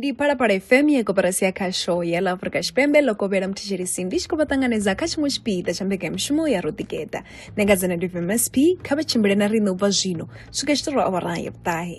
ndi phalaphala fm ye koperasi ya khasho ya la afrika tshipembe ḽo kovhela muthetshelesi ndi tshi khou vha ṱanganedza kha tshiṅwe tshipiḓa tsha mbekanyamushumo ya roḓigeta nengadzana ndi vmsp kha vha tshimbile na riṋe u bva zwino swika tshitorwa awara ya vhuṱahe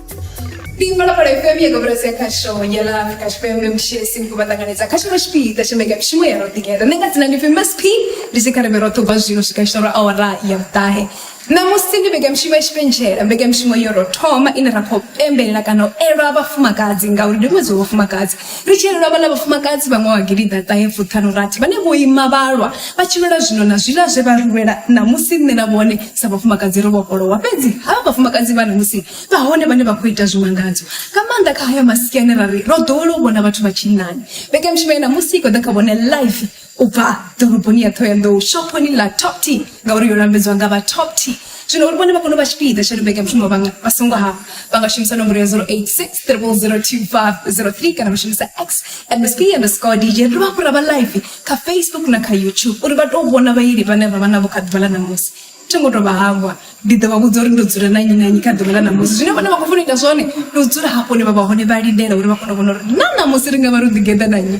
Pingbalaphala FM ya gobeletsa ya khasho ya la Afrika Tshipembe mshesi mkuba tanganedza khasho la tshipiḓa tsha mega mishumo ya roḓigeḓa nṋe nga dzina ndi famous p ndi sikhareme ro ṱubva zwino swika tshitoro awara ya vhuṱahe ṋamusi ndi mega mishumo ya tshipentshela mega mishumo yo ro thoma ine ra khou pembelela kana u elwa vhafumakadzi ngauri ndi ṅwedzi wa vhafumakadzi Ri tshi lwela vhaḽa vhafumakadzi vha ṅwaha wa gidiḓa ṱahe fuṱhanu rathi vhane vho ima vha lwa vha tshi lwela zwino na zwiḽa zwe vha ri lwela ṋamusi nṋe na vhone sa vhafumakadzi ro vhofholowa fhedzi havha vhafumakadzi vha ṋamusi vha hone vhane vha khou ita zwimangadzo nga maanḓa kha haya masia ane ra ri ro ḓowela u vhona vhathu vha tshinnani. Mbekanyamushumo ya ṋamusi i khou ḓa kha vhone live u bva ḓoroboni ya Thohoyandou, shophoni ḽa Top Tea, ngauri yo lambedzwa nga vha Top Tea. Zwino uri vhone vha kone u vha tshipiḓa tsha Ḽimbeke ya Mushumo vha nga vha songo hafha, vha nga shumisa nomboro ya 086 002503 kana vha shumisa X MSP underscore DJ. Ri dovha hafhu ra vha live kha Facebook na kha YouTube uri vha tou vhona vhaeli vhane ra vha navho kha ḓuvha ḽa ṋamusi. Thi ngo tou vha hangwa, ndi ḓo vha vhudza uri ndo dzula na nnyi na nnyi kha ḓuvha ḽa ṋamusi. Zwine vhone vha khou funa u ita zwone ndi u dzula hafho hune vha vha hone vha lindela uri vha kone u vhona uri na ṋamusi ri nga vha ro ḓigeḓa na nnyi.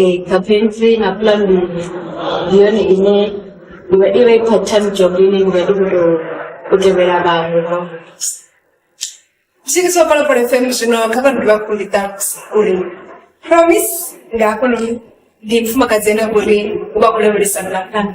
e capentry na plan ndi ndi yone ine ndi vha i vha i part time job ine ndi vha ndi khou tou u tevhela vhaṅwe vha Sisi so pala pala FM zwino kha vha ndi vha kundi tax uri promise nga hafhanoni ndi mfumakadzi ene uri u vha khou lavhelesa mvelaphanḓa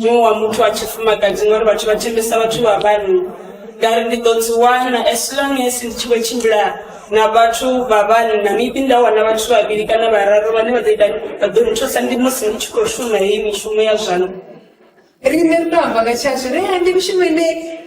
muṅwe wa muthu wa tshifumakadzi ngori vhathu vha thembesa vhathu vha vhanna ngari ndi ḓo dzi wana as long as ndi tshi khou tshimbila na vhathu vha vhanna maybe nda wana vhathu vhavhili kana vhararu vhane vha ḓo ita vha ḓo nthusa ndi musi ndi tshi khou shuma heyi mishumo ya zwanḓa riṋe ri to amba nga tshashu ri ende mishumo ine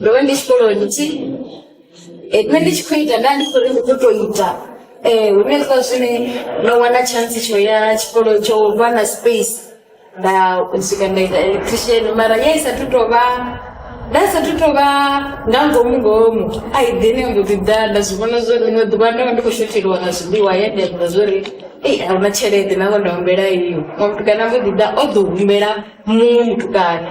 ndo vha ndi tshikoloni thi eh, nṋe ndi tshi khou ita nda ndi khou ri ndi ḓo tou ita um hune kha zwine ndo wana chance tsho ya tshikolo tsho vha na space nda swika nda ita electrician mara ya i sathu tou vha nda sathu tou vha nga ngomu ngomu a i ḓini mbo ḓi ḓa nda zwi vhona zwo ḽiṅwe ḓuvha ndo vha ndi khou shotheliwa nga zwiḽiwa ya ndi amba zwo ri ei a huna tshelede nango nda humbela iyo mutukana mbo ḓi ḓa o ḓo humbela muṅwe mutukana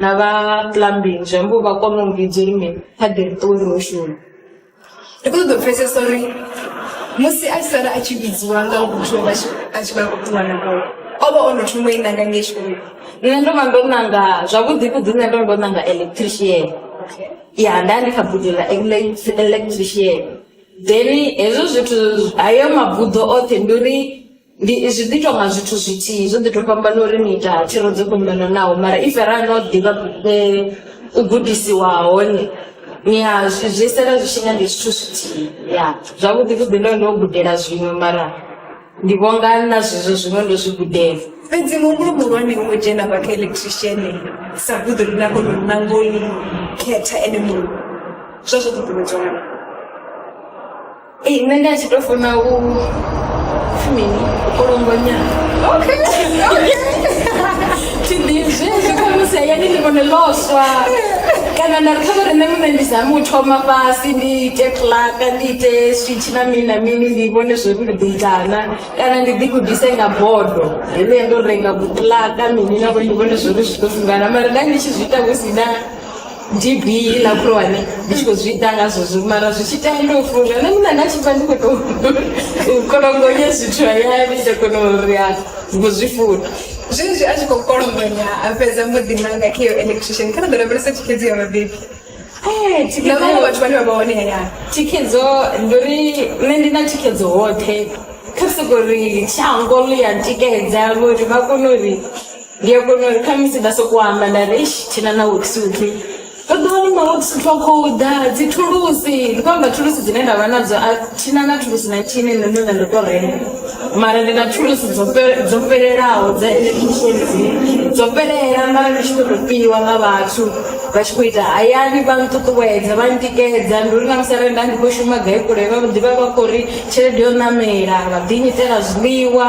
na vha plumbing zwi ambo vha kona u vhidzwa uri mini kha ḓi ri ṱuwe ro shuma ndi khou ṱoḓa u pfesesa uri musi a sala a tshi vhidziwa nga muthu a tshi vha khou ṱuwa na koo o vha o no thoma i nanga ngei tshikoloni nṋe ndo vha ndo nanga zwavhuḓi vhuḓi nṋe ndo ndo nanga electrician ya nda ndi kha buḓo ḽa electrician then hezwo zwithu hayo mabuḓo oṱhe ndi uri Ndi zwi ḓi tou nga zwithu zwithihi zwo ḓi tou fhambana uri ni ita thero dzo fhambananaho mara if ra no ḓivha u gudisiwa hone ni ya zwi zwi sala zwi tshi nga ndi zwithu zwithihi ya zwavhuḓi vhuḓi ndo ndo gudela zwiṅwe mara ndi vhonga na zwezwo zwiṅwe ndo zwi gudela fhedzi muhumbulo muhulwane wo dzhena vha kha electrician sa buḓo ḽi na kona u nanga u khetha ene muṅwe zwa zwo ṱuṱuwedzwa Ee, nṋe ndi a tshi tou funa u fumini u longonya okay okay tshidizwi zwi khamusi hayani ndi vhone loswa kana nda ri kha vhare nṋe muṋe ndi zame u thoma fhasi ndi ite plaka ndi ite switch na mini na mini ndi vhone zwo ri ndi ḓo itana kana ndi ḓigudise nga bodo heḽo ya ndo renga butlaka mini na vhone ndi vhone zwo ri zwi ḓo fungana mara nda ndi tshi zwi ita hu si na db iḽa khulwane ndi tshi khou zwi ita ngazwo zwi mara zwi tshi tea ndo funga nṋe muṋa nda tshi pfa ndi khou tou kolongonye zwithu hayani nda kona uri a ngo zwi funa zwenezwi a tshi khou kolongonya a fhedza muḓi nanga kha iyo electrician kha ra ḓo lavhelesa thikhedzo ya vhabebi Eh, na vhaṅwe thikhedzo- vhathu vhane vha vha hone hayani thikhedzo ndi uri nṋe ndi na thikhedzo hoṱhe kha soko uri shango ḽi ya tikedza uri vha kone uri ndi a kona uri khamusi nda sokou amba nda ri eish thina na worksuit ndo ḓi wana ma worksuit wa khou ḓa dzi thulusi ndi khou amba thulusi dzine nda vha nadzo a thina na thulusi na thini nṋe ndo nda ndo tou renga mara ndi na thulusi dzo fhe- dzo fhelelaho dza electrician dzine dzo fhelela mara ndi tshi khou tou piwa nga vhathu vha tshi khou ita hayani vha nṱuṱuwedza vha ntikedza ndi uri na musi arali nda ndi khou shuma gai kule vha ḓivha vha khou ri tshelede yo ṋamela vha ḓinyitela zwiḽiwa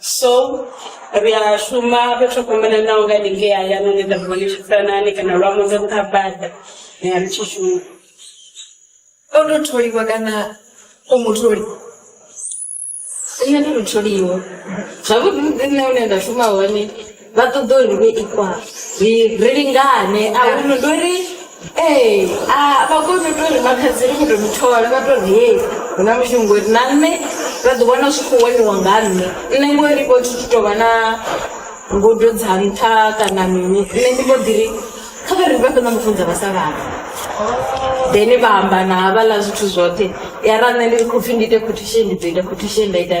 so ri a shuma fhethu ho fhambananaho nga haningei hayani hune nda vhone tshisanani kana lwa muḓa nṱha bada ni a ri tshi shuma o to tholiwa kana o mutholi nṋe ndi mutholiwa zwavhuḓi muḓi nṋe hune nda shuma hone vha ṱoḓa uri vhe ikwa ri ri lingane a huno ndo ri ee a vha koni u to ri makhadzi ri kho to muthola vha to ri hei hu na mushumo ngori na nṋe vha ḓi wana zwi khou waniwa nga nṋe nṋe ngori vho thi tu tovha na ngudo dza nṱha kana mini nṋe ndi mbo ḓi ri kha vha ri vha fhedza mufunza vha sa vhana then vha amba na havhaḽa zwithu zwoṱhe ya ra nṋe ndi ri khou pfhi ndi ite quotation ndi ḓo ita quotation nda ita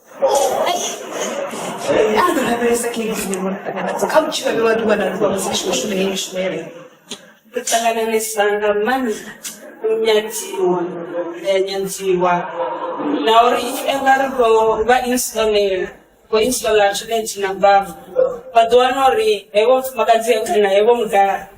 kusangananisa nga maanḓa nyadziwa eh, nyandziwa na uri nga ri khou vha installer khou installer toilet na bavu vha ḓo wana uri hevho mufumakadzi kana hevho mudala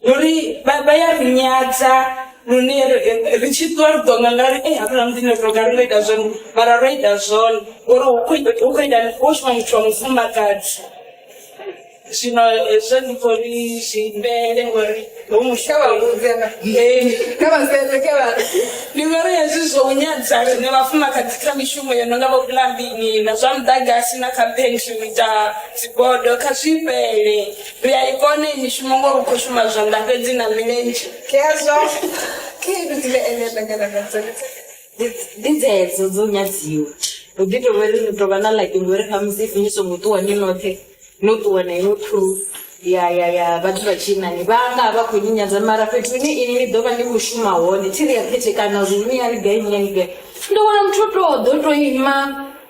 Uri vha vha ya ri nyadza lune ri- ri tshi ṱuwa ri ḓo nga nga ri ei hafhaḽa muḓini ro tou nga ri ngo ita zwone mara ro ita zwone uri hu khou ita- hu khou ita hu khou shuma muthu wa mufumakadzi zwino hezwo ndi khou ri zwi imbele ngori hu muhla wa vhuvhera kha vhasere kha vha ndi ngori hezwi zwo u nyadza rine vhafumakadzi kha mishumo yo no nga vho vhulambini na zwa muḓagasi na kha phentri u ita dzibodo kha zwi fhele Ri a i kona iyi mishumo ngori u khou shuma zwanḓa fhedzi na milenzhe. Hezwo khaedu dzine ene nda nyana nadzo ndi dzedzo dzo nyadziwa. Hu ḓi tovha uri ri tovha na lucky ngori khamusi if ni songo ṱuwa ni noṱhe no ṱuwa na iṅwe crew ya ya ya vhathu vha tshinnani vha nga vha khou ni nyadza mara fhethu hune ini ni ḓovha ni khou shuma hone thi ri a khethekana uri ni ya ri gai ni ya ni gai ni ḓo wana muthu o to ḓo to ima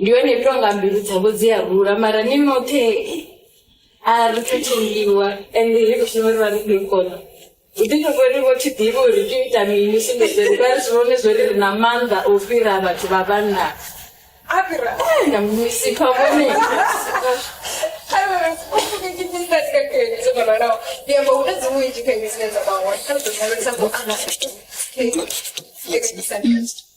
ndi yone ito nga mbilu dzavho dzi a rula mara ni noṱhe a ri thu tshimbiwa ende ri khou shuma ri vha ri khou i kona u ḓi tou ri vho thi ḓivhi uri tea u ita mini sumbedzeri vha ri zwi vhone zwo ri ri na maanḓa o fhira vhathu vha vhanna a fhira e na misi kha vhone Thank you.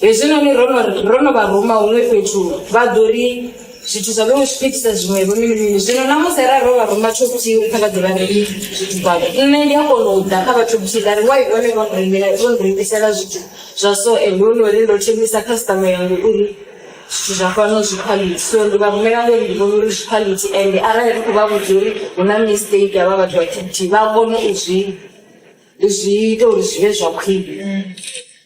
hezwinoni ro no ri- ro no vha ruma huṅwe fhethu vha ḓo ri zwithu zwa vhewe zwipitisa zwiṅwevho mini mini zwino namusi ra ro vha ruma top tea uri kha vha ḓe vha renge zwithu zwavho nṋe ndi a kona u ḓa kha vha top tea nda ri wai one vho nrengela vho nrengisela zwithu zwa so ende hu nori ndo thembisa khasitama yangu uri zwithu zwa fhano zwi quality so ndi vha rumela ngori ndi vhona uri zwi quality ende arali ri khou vha vhudza uri hu na mistake havha vhathu vha top tea vha kone u zwi zwi ita uri zwi vhe zwa khwine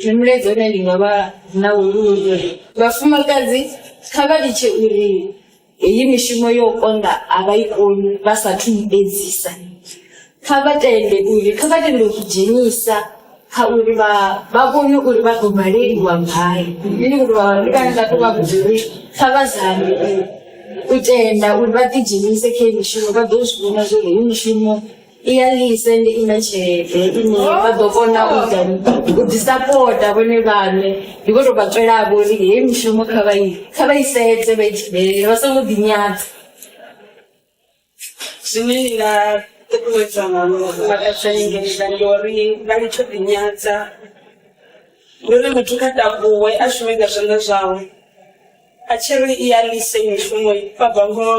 Zwi mulaedza une ndi nga vha na wo ndi wo uri vhafumakadzi kha vha litshe uri heyi mishumo yo konḓa a vha i koni vha sathu i edzisa. Kha vha tende uri kha vha tende u ḓi dzhenisa kha uri vha vha vhone uri vha ḓo baleliwa gai. Ndi ngori vha vhaṅwe vhane vha to vha vhudza uri kha vha zame u tenda uri vha ḓi dzhenise kha heyi mishumo vha ḓo zwi vhona zwori heyi mishumo i ya lise ndi ina tshelede ine vha ḓo kona u ita u ḓisapota vhone vhaṋe ndi vho tou vha tswelavho uri heyi mishumo kha vha i kha vha i sedze vha i tshibele vha songo ḓinyadza zwine ndi nga ṱuṱuwedza nga mufumakadzi anengelela ndi uri vha litsho ḓinyadza ndi uri muthu kha takuwe a shume nga zwanḓa zwawe A tshi ri i ya lisa i mushumo i vha bva ngoho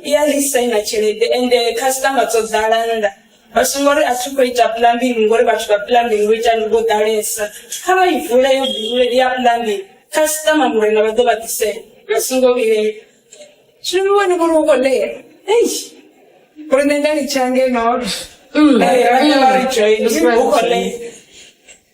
i ya lisa i na tshelede ende khasiṱama dzo ḓala nnḓa vha songo ri a thi khou ita plumbing ngori vhathu vha plumbing vho ita vho ḓalesa kha vha i vule yo bule ya plumbing khasiṱama murena vha ḓo vha ḓisela vha songo vhilela zwino ni wane uri u khou ḽea ei uri nṋe nda litsha ngeno vha ḓa vha ri join u khou ḽea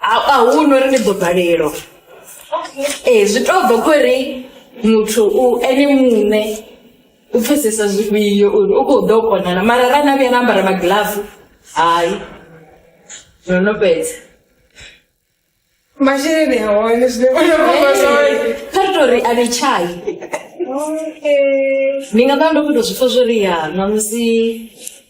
A a hu na uri ndi ḓo balelwa ee zwi to bva khori muthu u ene muṋe u pfhesesa zwifhio uri u kho ḓo kona na mara arali na vhuya na ambara magilafu hai no no fhedza. Masheleni a hone zwine vha nga vha fha zwone. Kha ri tori a ḽi tshai ndi nga ṱavha ndo tou zwi pfha zwori ya ṋamusi.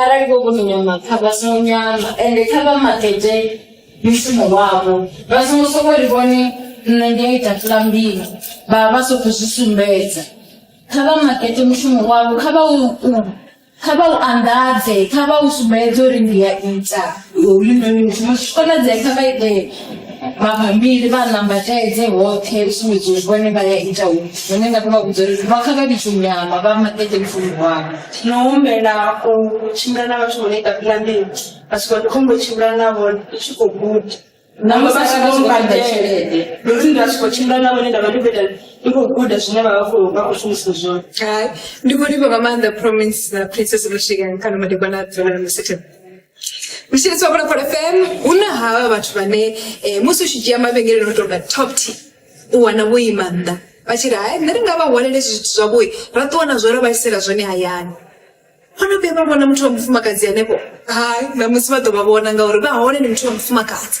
Arali vho vhono nyama kha vha songo nyama ende kha vha makete mushumo wavho vha songo sokou ri vhone nṋe ndi a ita fulambili vha vha vha sokou zwi sumbedza kha vha makete mushumo wavho kha vha u kha vha u anḓadze kha vha u sumbedze uri ndi a ita hoyunoni mushumo zwi tshi konadzea kha vha ite. mabambiri vha nambatedze hoṱhe u sumbedza uri vhone vha ya ita u zwine nda khou vha vhudza uri vha kha vha litsho nyama vha maṱete mushumo wavho no humbela u tshimbila na vhathu vho no ita pulanini vha swika ndi khombo tshimbila na vhone ndi tshi khou guda navho vha tshi khou badela tshelede ndi uri nda swika tshimbila na vhone nda vha ndi khou ita ndi khou guda zwine vha vha khou vha khou shumisa zwone Hai, ndi khou livha nga maanḓa promise na princess Michigan kana madekwana a dzula na musitha Mishini tsopano pa FM unahawa vhathu vhane eh, musi u tshi dzhia mavhengeleni u tonga top t u wana vho ima nnḓa vha tshi ri hai nṋe ri nga vha hwalele zwithu zwavhoi ra ṱuwa na zwo ra vha isela zwone hayani vhono vhuya vha vhona muthu wa mufumakadzi henefho hai ṋamusi vha ḓo vha vhona ngauri vha hone ndi muthu wa mufumakadzi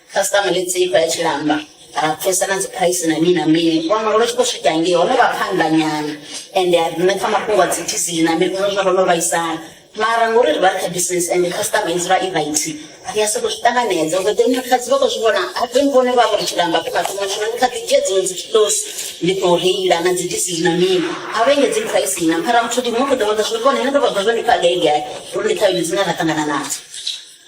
khasitama ḽi tse ifa ya tshilamba ra pfesa na dziphuraisi na mini na mini wana uri tshi khou swika ngei ho no vha phanḓa nyana ende a nṋe pfa mafhungo a dzi dizili na mini zwa ro no vhaisala mara ngori ri vha ri kha business ende khasitama i dzula i vaithi ri a sokou zwi ṱanganedza uri ḓe muthu khadzi vha khou zwi vhona a ḓe mvhone vha vhori tshilamba kho mathoma zwino ndi kha ḓi dzhia dziṅwe dzi kilosi ndi khou reila na dzi dizili na mini a vha engedzi phuraisi na mara muthu ndi muṅwe ḓo vha ḓa zwi vhone nṋe ndo vha ḓa zwo ndi pfa gai gai uri ndi khaedu dzine ra ṱangana nadzo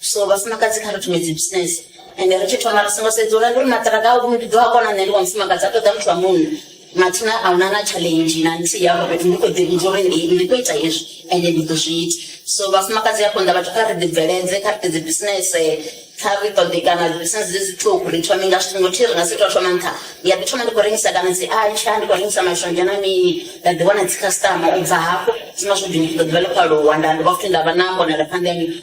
so vhafumakadzi kha ri thume dzi business ende ri tshi thoma ri songo sedza uri ndi uri maṱiraka a ndi ḓo a kona nṋe ndi wa mufumakadzi a ṱoḓa muthu wa munna mathina a huna na challenge na nthihi afho fhethu ndi khou ḓi vhudza uri ndi ndi khou ita hezwi ende ndi ḓo zwi ita so vhafumakadzi ya konḓa vhathu kha ri ḓi bveledze kha ri ḓi dzi business kha ri ṱoḓe kana dzi business dzi zwiṱuku ri thome nga zwithu ngothi ri nga si tou thoma nṱha ndi a ḓi thoma ndi khou rengisa kana dzi atsha ndi khou rengisa mashonzha na mini nda ḓi wana dzi customer u bva hafho zwi nga zwo ḓi ḓo ḓivha ḽi khou aluwa nda ndi vha futhi nda vha na mbonelaphanḓa ya mini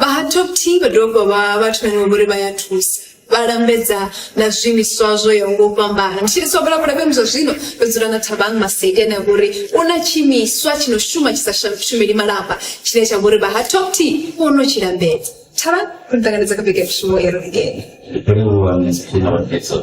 Vha ha Top T vha dovha vha vha vhathu vhane vha vhori vha ya thusa vha lambedza na zwiimiswa zwo yaho nga u fhambana ndi tshi ri sobela vhulafhemi zwa zwino ndo dzula na thabang masedi ane a vha uri u na tshiimiswa tshi no shuma tshi sa shumeli malamba tshine tsha vha uri vha ha Top T vho no tshi lambedza thabang ri ṱanganedza kha vhege ya mushumo i re ngeno Hello, I'm Miss Pino Dixon.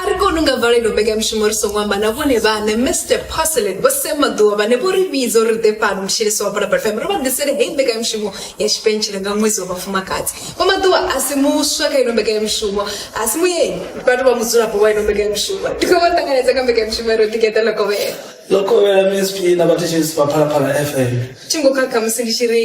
A ri koni u nga valelwa mbekanyamushumo ri songo amba na vhone vhaṋe. Mme Step Paselet, Vho Sam Maḓuvha, vhane vho ri vhidza uri ri ḓe fhano Mshiliswa wa Phalaphala FM uri vha ḓisele heyi mbekanyamushumo ya tshipentshela nga ṅwedzi wa vhafumakadzi. Vho Maḓuvha a si muswa kha ino mbekanyamushumo, a si mueni, vha tou vha mudzulapo wa ino mbekanyamushumo. Ndi khou vha ṱanganedza kha mbekanyamushumo ya ri ḓi geḓa ḽa kovhela. Ḽo kovhela Minisṱri na vhathetshelesi vha Phalaphala FM. Thi ngo khakha musi ndi tshi ri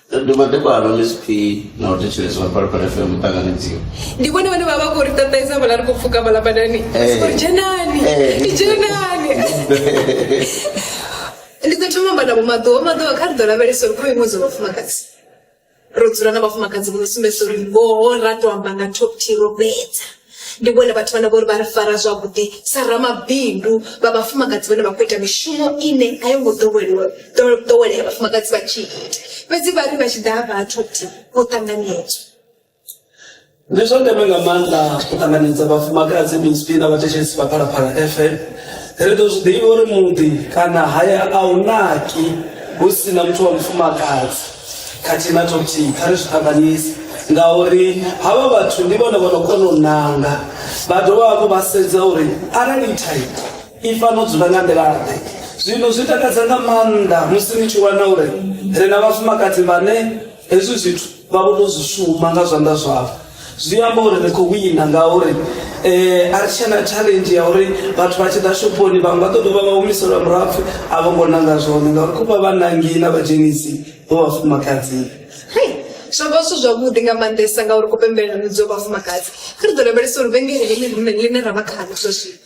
ri dovha ḓuvha lwa msp na u thetsheleswa phalaphala fm muṱanganedziwa ndi vhone vhane vha vha khou ri ṱaṱaisa vhala ri khou pfuka vhala badani ri dzhenani i dzhenani ndi ḓo thoma amba navho maḓuvha maḓuvha kha ri ḓo lavhelesa uri kha iṅwe dza vhafumakadzi ro dzula na vhafumakadzi vho no sumbedzisa uri ngoho ra to amba nga top t ro fhedza ndi vhone vhathu vhane vhori vha ri fara zwavhuḓi sa ramabindu vha vhafumakadzi vhane vha khou ita mishumo ine a yo ngo ḓoweliwa ḓowelea vhafumakadzi vha tshi ita fhedzi vha ri vha tshi ḓa vhathu ti vho ṱanganedzwa ndi zwa ndeme nga maanḓa u ṱanganedza vhafumakadzi mispi na vhathetshelisi vha phalaphala fm ri ḓo zwi ḓivha uri muḓi kana haya a u naki hu si na muthu wa mufumakadzi khathihi na tokuthihi kha ri zwi ṱanganyise ngauri havha vhathu ndi vhone vho no kona u nanga vha dovha hafhu vha sedza uri arali ithai i fano dzula nga nḓilaḓe zwino zwi takadza nga maanḓa musi ni tshi wana uri ri na vhafumakadzi vhane hezwi zwithu vha vho to zwi shuma nga zwanḓa zwavho zwi amba uri ri khou wina ngauri um a ri tshena challenge ya uri vhathu vha tshi ḓa shophoni vhaṅwe vha ḓo dovha vha humiselwa murapfu a vho ngo nanga zwone ngauri khou vha vha nangi na vhadzhenisi vho vhafumakadzini zwo vha zwithu zwavhuḓi nga maanḓesa ngauri ku pembelelani dzo vhafumakadzi kha ri ḓo lavhelesa uri vhengele ḽine ḽine ra vha khalo zwa zwino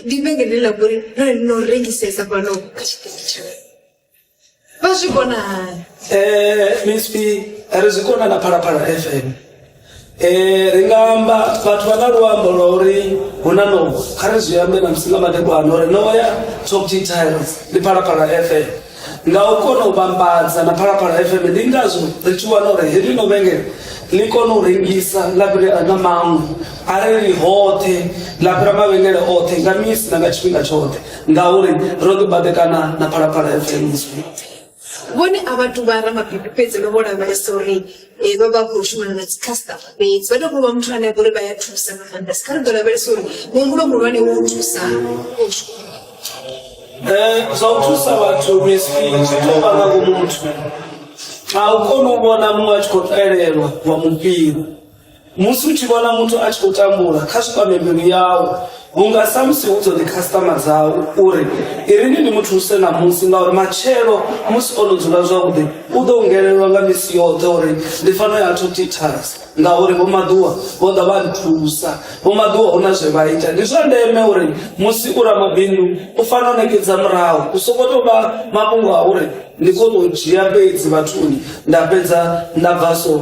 ndi vhengele ḽa vhori ri no rengisesa fhano kha tshiṱitshi vha zwi kona hani Eh, msp ri zwi kona na phalaphala fm Eh, ri nga amba vhathu vha na luambo lwa uri hu na nowa kha ri zwi ambe na musi nga madekwana uri nowa ya top t tiles ndi phalaphala fm nga u kona u vhambadza na phalaphala fm ndi ngazwo ri tshi wana uri heḽi no vhengele ḽi kone u rengisa ḽa fhira na maṅwe arali hoṱhe ḽa fhira mavhengele oṱhe nga misi na nga tshifhinga tshoṱhe ngauri ro ḓi baḓekana na phalaphala ya fenizwi vhone a vhathu vha ramabindu fhedzi vha vho lavhelesa uri eh, vha vha khou shumana na dzikhasitama fhedzi vha tou vha muthu ane a vhori vha ya thusa nga maanḓa sikha ri ḓo lavhelesa uri muhumbulo muhulwane wo thusa eh, zwa u thusa vhathu misfi zwi tou vha nga vhumuthu a u koni u vhona muṅwe a tshi khou elelwa wa mupira musi u tshi vhona muthu a tshi khou tambula kha zwi kwame mbilu yawu vhunga samusi hu dzone khasitama dzawu uri i ri ni ni muthuse ṋamusi ngauri matshelo musi o no dzula zwavhuḓi u ḓo ungelelwa nga misi yoṱhe uri ndi fano ya thu tithas ngauri vhomaḓuwa vho ḓa vha nthusa vhomaḓuwa hu na zwe vha ita ndi zwa ndeme uri musi u ramabindu u fanela u ṋekedza murahu u soko tou vha mafhungo a uri ndi khou tou dzhia fhedzi vhathuni nda fhedza nda bva so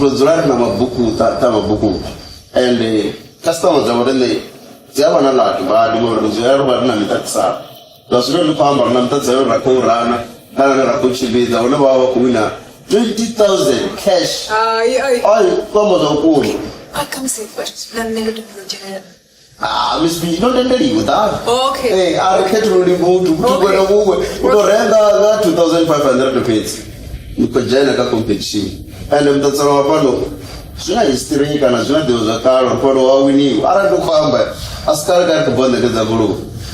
ro dzula ri na mabuku ṱa ṱa mabuku and customer dza vhone nṋe dzi a vha na ḽato badi ngori ri dzula ri vha ri na miṱaṱisano zwa zwino ndi khou amba ri na miṱaṱisano ra khou rana kana ne ra khou tshimbidza hune vha vha vha khou wina 20000 cash Hai, ai. ai kwamba zwa vhukuma a khamusi na nṋe ndo topolotshela Ah, Miss B, no tendeliwi ḓala Okay. Eh, a ri khethululi muthu muthu Okay. kwena kuwe u to renga nga 2500 fhedzi ni khou dzhena kha competition ende muṱatsela wa fhano zwi na history kana zwi na ḓivho zwa kale uri fhano wa winiwa arali ndi khou amba a si kale kale khou bva ṋekedza goloi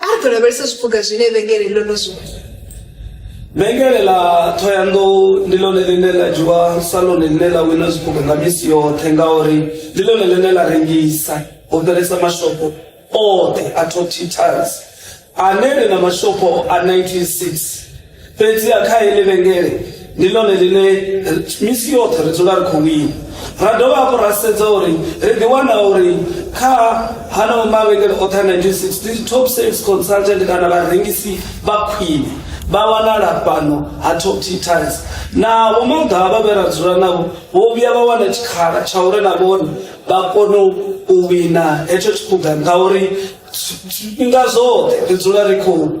A ri khou lavhelesa zwiphuga zwine vhengele ḽo no zwi Vhengele ḽa Thohoyandou ndi ḽone ḽine ḽa dzhiwa sa ḽone ḽine ḽa wina zwiphuga nga misi yoṱhe ngauri ndi ḽone ḽine ḽa rengisa ho fhelesa mashopho oṱhe a Top Cheaters ane ri na mashopho a 96 fhedziha kha heḽi vhengele ndi ḽone ḽine misi yoṱhe ri dzula ri khou wina ra dovha hafhu ra sedza uri ri ḓiwana uri kha hanao mavhengele oṱhe a 1960 top sales consultant kana vharengisi vha khwine vha wanala fhano ha top t tiles na vhomaga vha vhe ra dzula navho vho vhuya vha wana tshikhala tsha uri na vhone vha kone u wina hetsho tshiphuga ngauri zwifhinga zwoṱhe ri dzula ri khou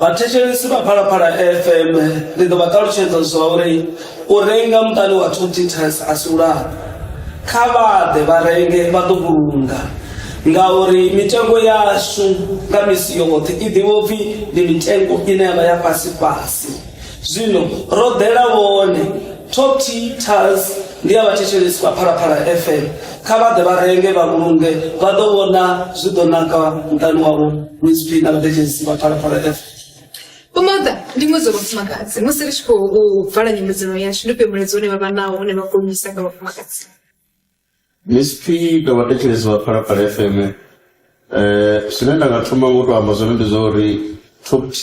Vhathetshelesi vha Phalaphala FM ndi ḓo vha ṱalutshedza zwa uri u renga muṱani wa two titas a si u lafha. Kha vha ḓe vha renge vha ḓo vhulunga ngauri mitengo yashu nga misi yoṱhe i ḓivha upfhi ndi mitengo ine ya vha ya fhasi fhasi. zwino ro ḓela vhone top teachers ndi a vhathetshelesi vha phalaphala fm kha vha ḓe vha renge vha vhulunge vha ḓo vhona zwi ḓo naka muṱani wavho msp na vhathetshelesi vha phalaphala fm Umaga ndi ṅwedzi wa vhafumakadzi musi ri tshi khou vala nyimedzelo yashu ndi ufhio mulaedza une vha vha nawo une vha gonyisa nga vhafumakadzi msp na vhathetshelesi vha phalaphala fm um zwine nda nga thoma ngo to amba zwone ndi zwa uri top t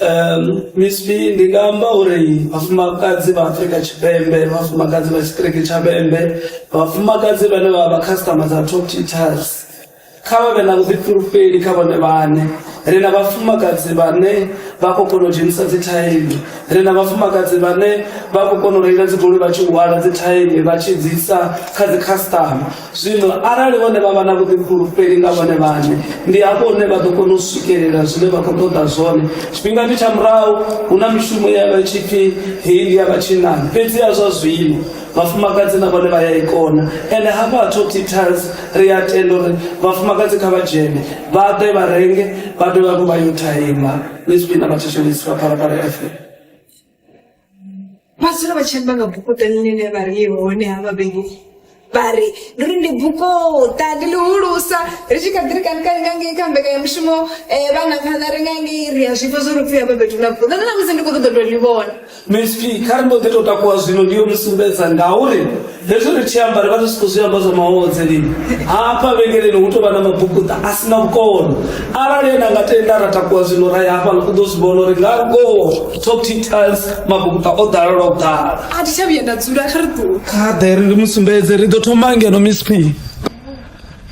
Um, Miss B ndi nga amba uri vhafumakadzi vha Afrika Tshipembe vhafumakadzi vha tshiṱiriki tsha Vhembe vhafumakadzi vhane vha vha customer dza Top Tutors kha vha vhe na vhuḓifhulufheli kha vhone vhane ri na vhafumakadzi vhane vha khou kona u dzhenisa dzi thaini ri na vhafumakadzi vhane vha khou kona u reila dzigoloi vha tshi hwala dzi thaini vha tshi dzi isa kha dzi customer Zwino arali vhone vha vha na vhuḓifulufheli nga vhone vhane ndi hafho hune vha ḓo kona u swikelela zwine vha khou ṱoḓa zwone tshifhingani tsha murahu hu na mishumo ya vha tshi pfi heyi ndi ya vhatshinnani fhedzi ya zwa zwino vhafumakadzi na vhone vha ya i kona ende hafha ha top details ri a tenda uri vhafumakadzi kha vha dzhene vha ḓe vha renge vha dovhe hafhu vha yo thaima ni zwifhina vhathetshelesi vha phalaphala fm mazulo vha tshi amba nga bukuṱa ḽine vha ri hone ha vhabebi vha ri ndi uri ndi bukuṱa ndi ḽihulusa ri tshi kha ḓi ri kanikani nga ngei kha mbekanyamushumo um vhana phanḓa ri nga ngei ri a zwifha zwo ri pfhi ha vhabebi na bukuṱa nṋe na musi ndi khou ṱoḓa u tou ḽi vhona msp kha ri mbo ḓi tou takuwa zwino ndi yo mu sumbedza ngauri hezvo ri tshi amba ri vha ri si khou zwi amba zwa mahodze lini hafha vhengeleni hu tou vha na mabukuṱa a si na vhukono arali ene anga tenda ra takuwa zwino ra ya hafha u ḓo zwi vhona uri nga ngoho top details mabukuṱa o ḓala lwa u ḓala a thi tsha vhuya nda dzula kha ri ḓo kha ḓe ri ndi mu sumbedze ri ḓo thoma ngeno miss p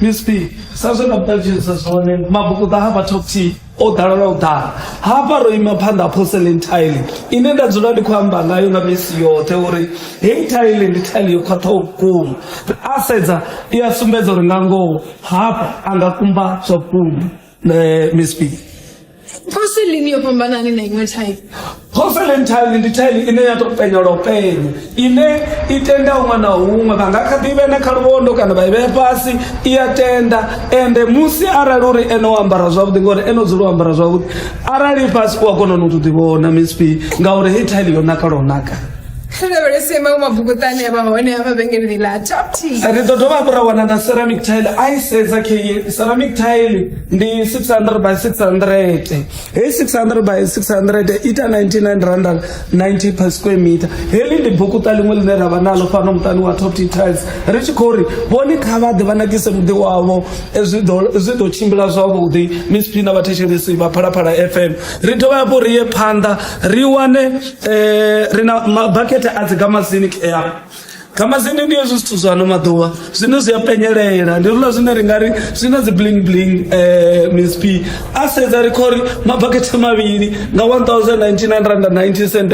miss p sa zwe na vhuṱalutshedzisa zwone mabukuṱa hafha top t o ḓala lwa u ḓala hafha ro ima phanḓa ha porcelain tile ine nda dzula ndi khou amba ngayo nga misi yoṱhe uri heyi tile ndi tile yo khwaṱhaho vhukuma a sedza i a sumbedza uri nga ngoho hafha a nga kumba zwa vhukuma um miss b porcelain yo fhambanani na iṅwe tile Phofelenthaini ndi thaini ine ya tou penya lwo penya ine i tenda huṅwe na huṅwe vha nga kha ḓi vhena kha luvhondo kana vha i vhea fhasi i ya tenda ende musi arali uri ene o ambara zwavhuḓi ngori ene o dzula o ambara zwavhuḓi arali fhasi u a kona no to ḓivhona misp ngauri hei thaini yo naka lwo naka ri lavhelese maṅwe mabvukuṱani a vha hone a vhavhengeleni ḽa top t ri ḓo dovha hafhu ra wana na ceramic tile a i sedza ke ceramic tile ndi 600 by 600 hei 600 by 600 ita 99 rand 90 per square meter heḽi ndi bukuṱa ḽiṅwe ḽine ra vha nalo fhano muṱani wa top tiles ri tshi khou ri vhone kha vha ḓe vha nakise muḓi wavho eh, zwi ḓo tshimbila zwavhuḓi miss phina vhathetshelesi vha phalaphala fm ri dovha hafhu ri ye phanḓa ri wane um ri na mabakete a dzi gamasini ea nga mazindi ndi hezwi zwithu zwa ano maḓuvha zwine zwi a penyelela ndi rula zwine ri nga ri zwi na dzi bling bling um msp a sedza ri kho ri mabakete mavhili nga 1990 cent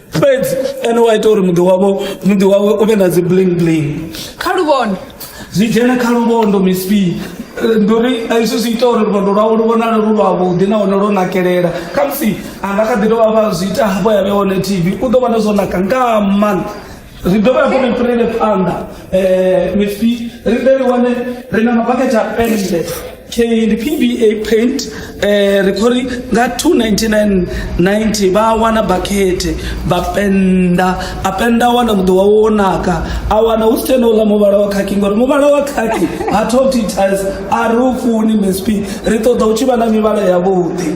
fhedzi ene wa ita uri muḓi wavho muḓi wawe u vhe na dzi bling bling kha luvhondo zwi dzhena kha luvhondo msp ndi uri hezwi zwi ita uri luvhondo lwawe lu vhonale lu lwavhuḓi nahone lwo nakelela khamusi anga kha ḓi dovha vha zwi ita hafho ya vhe hone tv u ḓo vhona zwo naka nga maanḓa ri dovha hafhu ri fhirele phanḓa um with ri ḓe ri wane ri na mabakete a pennde ndi pba paint um ri khou ri nga 29990 vha wana bakhethe vha penda a penda a wana muḓi wawe wo naka a wana hu si tshena uḽa muvhala wa khakhi ngori muvhala wa khakhi ha top details a ri u funi msp ri ṱoḓa u tshi vha na mivhala yavhuḓi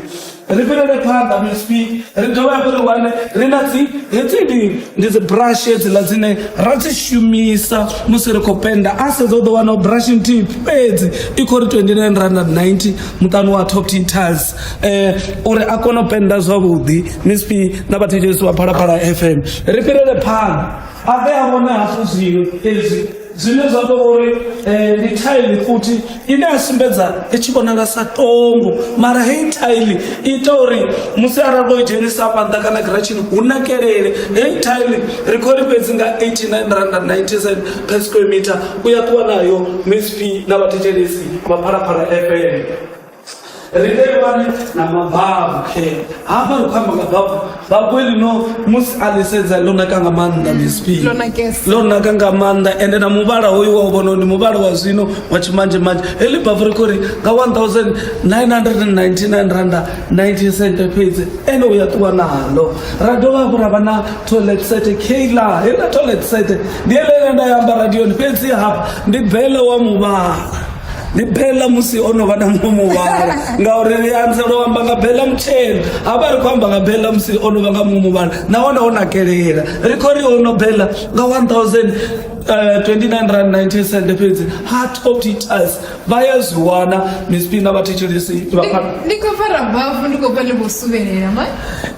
ri fhirele phanḓa msp ri dovhe hafhu ri wane ri na dzi hedzi ndi ndi dzi brush hedziḽa dzine ra dzi shumisa musi ri khou penda a sedza u ḓo wana brush nthihi fhedzi i khou ri 29 rand 90 muṱani wa top ten tiles um uri a kone u penda zwavhuḓi msp na vhathetshelisi wa phalaphala fm ri fhirele phanḓa a ḓe a vhone hafhu zwino hezwi zwine zwa tou uri eh, ndi thaili futhi ine ya sumbedza i tshi vhonala sa tongo mara heyi thaili i ita uri musi arali ro i dzhenisa fhanḓa kana giratshini hu nakelele heyi thaili ri khou ri fhedzi nga 89 rand 97 per square meter u ya ṱuwa nayo msp na vhathetshelesi vha phalaphala fm ri vheiwane na mababu hafha ri khou amba nga babu babu elino musi a ḽi sedza ḽo naka nga maanḓa misp ḽo naka nga maanḓa ende na muvhala hoyu wa u vhona ndi muvhala wa zwino wa tshimanje manje heḽi babu ri khou ri nga 1999 randa 19 cent fhedzi ende u ya ṱuwa naḽo ra dovha hafhu ra vha na toilet set kla heḽa toilet set ndi eḽele nda ya amba radioni fhedzi hafha ndi bele wa muvhala ndi bela musi o no vha na muṅwe muvhala ngauri ri anzela u amba nga bela mutshena ha vha ri khou amba nga bela musi o no vha nga muṅwe muvhala nahone o nakelela ri khou ri o no bela nga 1000 uh, 29 rand 19 cent fhedzi heart of teachers vha ya zwi wana mispina vha thetshelesi ndi khou fara bafu ndi khou pfa ndi vho suvelela ma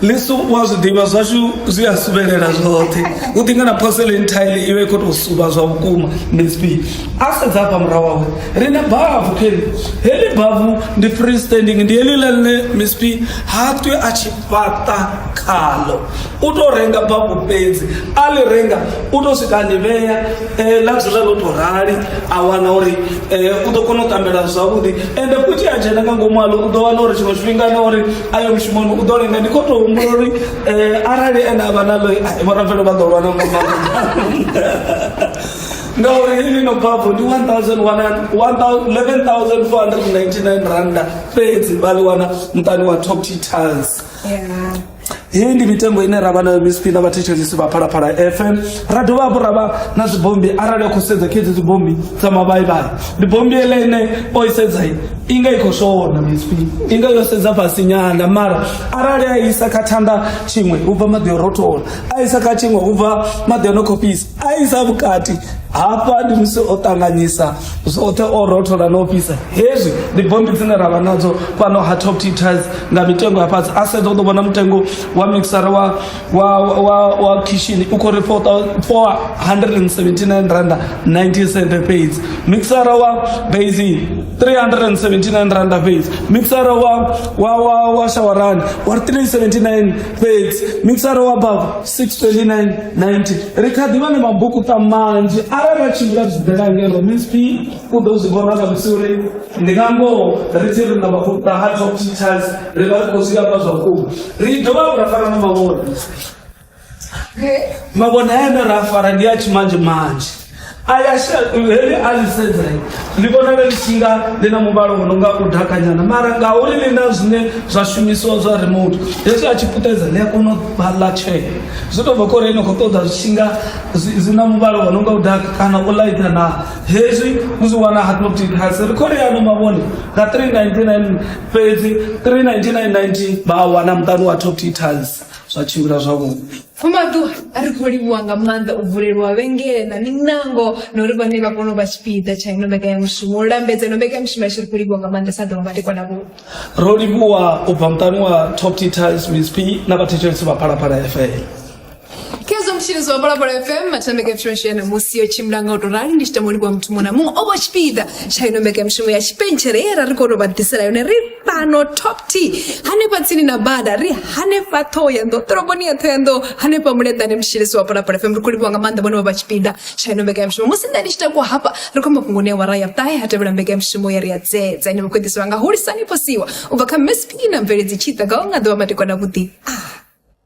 lisu wa zwi ḓivha zwashu zwi a suvelela zwoṱhe u ḓinga na porcelain tile iwe i khou tou suva zwa vhukuma mispina a sedza afha murahu wawe ri na bavu keni heḽi bavu ndi free standing ndi heḽi ḽa ḽine msp ha twi a tshi fhaṱa khalo u tou renga bavu fhedzi a ḽi renga u tou swika ḽi vhea eh, ḽa dzula ḽo tou rali a wana uri eh, u ḓo kona u tambela zwavhuḓi ende futhi a dzhena nga ngomu aḽo u ḓo wana uri tshiṅwe tshifhinga na uri a yo mushumoni u ḓo lenga ndi khou tou humbula uri eh, arali ene a vha naḽo vhorabvelo vha ḓo lwana nga maanḓa ngauri heyi no bvafho ndi 11499 randa fhedzi vha ḽi wana muṱani wa top titans heyi ndi mitengo ine ra vha nayo misipina vhathetshelisi vha phalaphala fm ra dovha hafhu ra vha na dzibombi arali a khou sedza kha edzi dzibombi dza mavhaivhai ndi bombi ele ine o i sedza i nga i khou shona misipina i nga yo sedza fhasi nyana mara arali a isa kha thanda tshiṅwe u bva maḓi o rothola a isa kha tshiṅwe u bva maḓi o no khou fhisa a isa vhukati hafha ndi musi o ṱanganyisa zwoṱhe o rothola na u fhisa hezwi ndi bommbi dzine ra vha nadzo fhano ha top teachers nga mitengo ya fhasi a sedza u ḓo vhona mutengo wa mixara wa, wa, wa, wa kishini u khou ri 479 randa 90 cent fhedzi mixara wa basi 379 randa fhedzi mixara wa, wa, wa, wa shawarani wa 379 fhedzi mixara wa bavu 62990 ri kha ḓi vha na mabukuṱa manzhi arali a tshimbila zwibela ngeno msp u ḓo zwi vhona nga musi uri ndi nga ngoho ri tshi ri na mabukuṱa ha top teachers ri vha ri khou zwi amba zwa vhukuma ri dovha ra fara na mavhone mavhone ane ra fara ndi a tshimanzhe manzhe aya sha- heḽi a ḽi sedzai ndi vhona vhe ḽi tshi nga ḽi na muvhalo wo no nga u dakanyana mara ngauri ḽi na zwine zwa shumisiwa zwa remote hezwi a tshi puṱedza ḽi a kona u vha ḽa tshee zwi tou bva kho uri ni khou ṱoḓa zwi tshi nga zwi zwi na muvhalo wo no nga u daka kana u laita na hezwi u zwi wana haptic hasi ri khou ri ano mavhone nga 399 fhedzi 399 90 vha a wana muṱani wa top tiles zwa tshimbila zwavhuḓi Fumadu ari khou livhuwa nga maanḓa u vulelwa vhengele na miṋango na uri vhane vha kone u vha tshipiḓa tsha ino mbekanyamushumo u lambedza ino mbekanyamushumo yashu ri khou livhuwa nga maanḓa sa ḓuvha madekwana vhu ro livhuwa u bva muṱani wa top titis msp na vhathetshelesi vha phalaphala fm khezwo mutshilisi wa phalaphala fm mathameka mishumo yashu ya ṋamusi yo tshimbila nga u tou rali ndi tshi tama u livhuwa muthu muṅwe na muṅwe o vha tshipiḓa tsha ino mbekanyamushumo ya tshipentshele ye ra ri kone u vha ḓisela yone ri fhano top t hanefha tsini na bada ri hanefha ṱhoho ya nḓo ṱoroboni ya ṱhoho ya nḓo hanefha muleḓane mushilisi wa polapala fm ri khou livhiwa nga maanḓa vhone vha vha tshipiḓa tsha ino mbekanyamushumo musi nṋe ndi tshi takuwa hafha ri khou mafhungoni ya wara ya ṱahe ha tevhela mbekanyamushumo ya ri ya dzedza ine vha khou ḓisiwa nga hulisani posiwa u bva kha msp na mveledzi tshiḓa nga u nga ḓovha matikwana vhuḓi a ah.